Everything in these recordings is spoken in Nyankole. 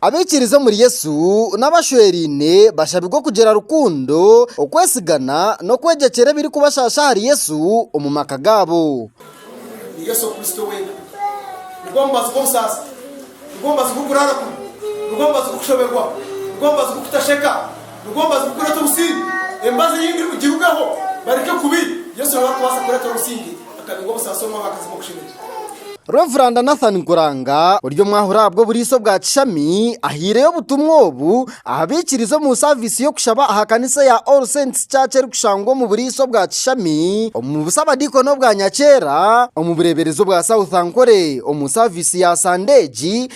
Abaikiriza omuri Yesu n'abashweraine bashabirwe kugira rukundo, okwesigana, n'okwegyekyera ebirikubashaasha ahari Yesu omu maka gaabo. Reveranda Nathan Nkuranga ori omwahuri ahabw'oburiisa obwa kishami ahaireyo obutumwa obu aha baikiriza omu saaviisi y'okushaba aha kanisa eya All Saints Church erikushangwa omu buriisa obwa kishami omu busabadiikoni obwa Nyakyera omu bureeberezi obwa South Ankole omu saaviisi ya sande egi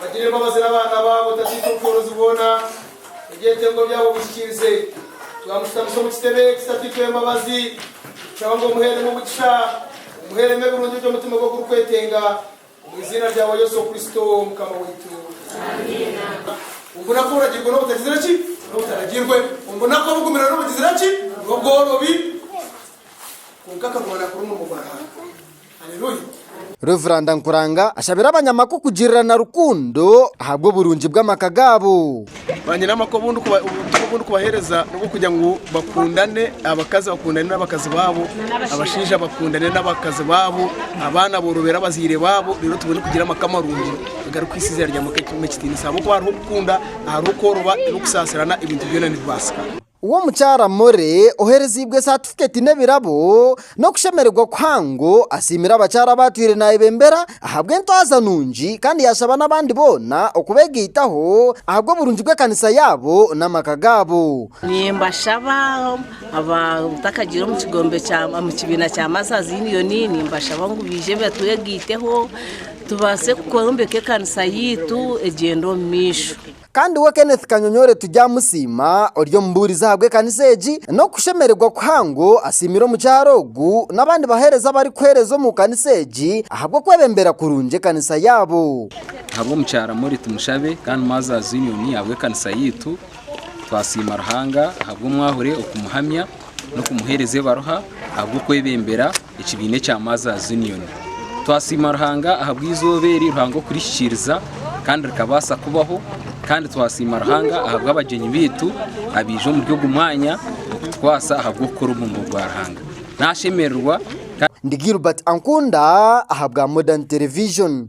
Bagire embabazi n'abaana baabo Tataitwe omu bworozi bwona Ebyetengo byabo bihikiirize Twamushutamise omu kitebe eki Tataitwe w'embabazi Nitushaba ngu omuheeremu omugisha Omuheeremu ebirungi eby'omutima gwe ogurikwetenga Omu iziina ryawe Yesu Kristo Mukama waitu Amiina. Omu bunaku oburagirwe n'obutagizire ki? N'obutaragirwe. Omu bunaku obugumire n'obugizire ki? N'obworobi. Kwonka akaguma naakora omurimo gwa Ruhanga. Reveranda Nkuranga ashabire abanyamaka okugirirana rukundo ahabw'oburungi bw'amaka gaabo. Banyinamaka obutumwa obu ndikubaheereza n'obw'okugira ngu bakundane, abakazi bakundane n'abakazi baabo, abashaija bakundane n'abakazi baabo, abaana boorobere abazaire baabo reero tubone kugira amaka marungi agarikuhaisa eiziina rya Mukama ekitiinisa ahabw'okuba hariho okukunda, hariho kworoba n'okusaasirana ebintu byona nibibaasika. We omukyara Morley ohereziibwe satifiketi n'ebirabo n'okushemererwa kuhango asiimire abakyara abaatwire naayebembera ahabw'entwaza nungi kandi yaashaba n'abandi boona okubeegaitaho ahabw'oburungi bw'ekanisa yaabo n'amaka gaabo. Nimbashaba abatakagiire omu kigombe kya omu kibiina kya Mothers Union nimbashaba ngu baije batwegaiteho tubaase kwombeka ekanisa yaitu egyende omu maisho. Kandi we Kenneth Kanyonyore turyamusiima ori omubuurizi ahabw'ekanisa egi, n'okushemererwa kuhango asiimire omukyara ogu n'abandi baheereza abarikuheereza omu kanisa egi ahabw'okwebembera kurungi ekanisa yaabo. Ahabw'omukyara Molly Tumushabe kandi Mother's Union ahabw'ekanisa yaitu, twasiima Ruhanga ahabw'omwahure okumuhamya n'okumuheereza ebaruha ahabw'okwebembera. Ekibiina ekya Mothers Union. Twasiima Ruhanga ahabw'eizooba eri Ruhanga okurihikiriza kandi rikabaasa kubaho kandi twasiima Ruhanga ahabw'abagyenyi baitu abaija omuri ogu mwanya okutukwaasa ahabw'okukora omurimo gwa Ruhanga. Nashemererwa. Ndi Gilbert Ankunda ahabwa Modern Television.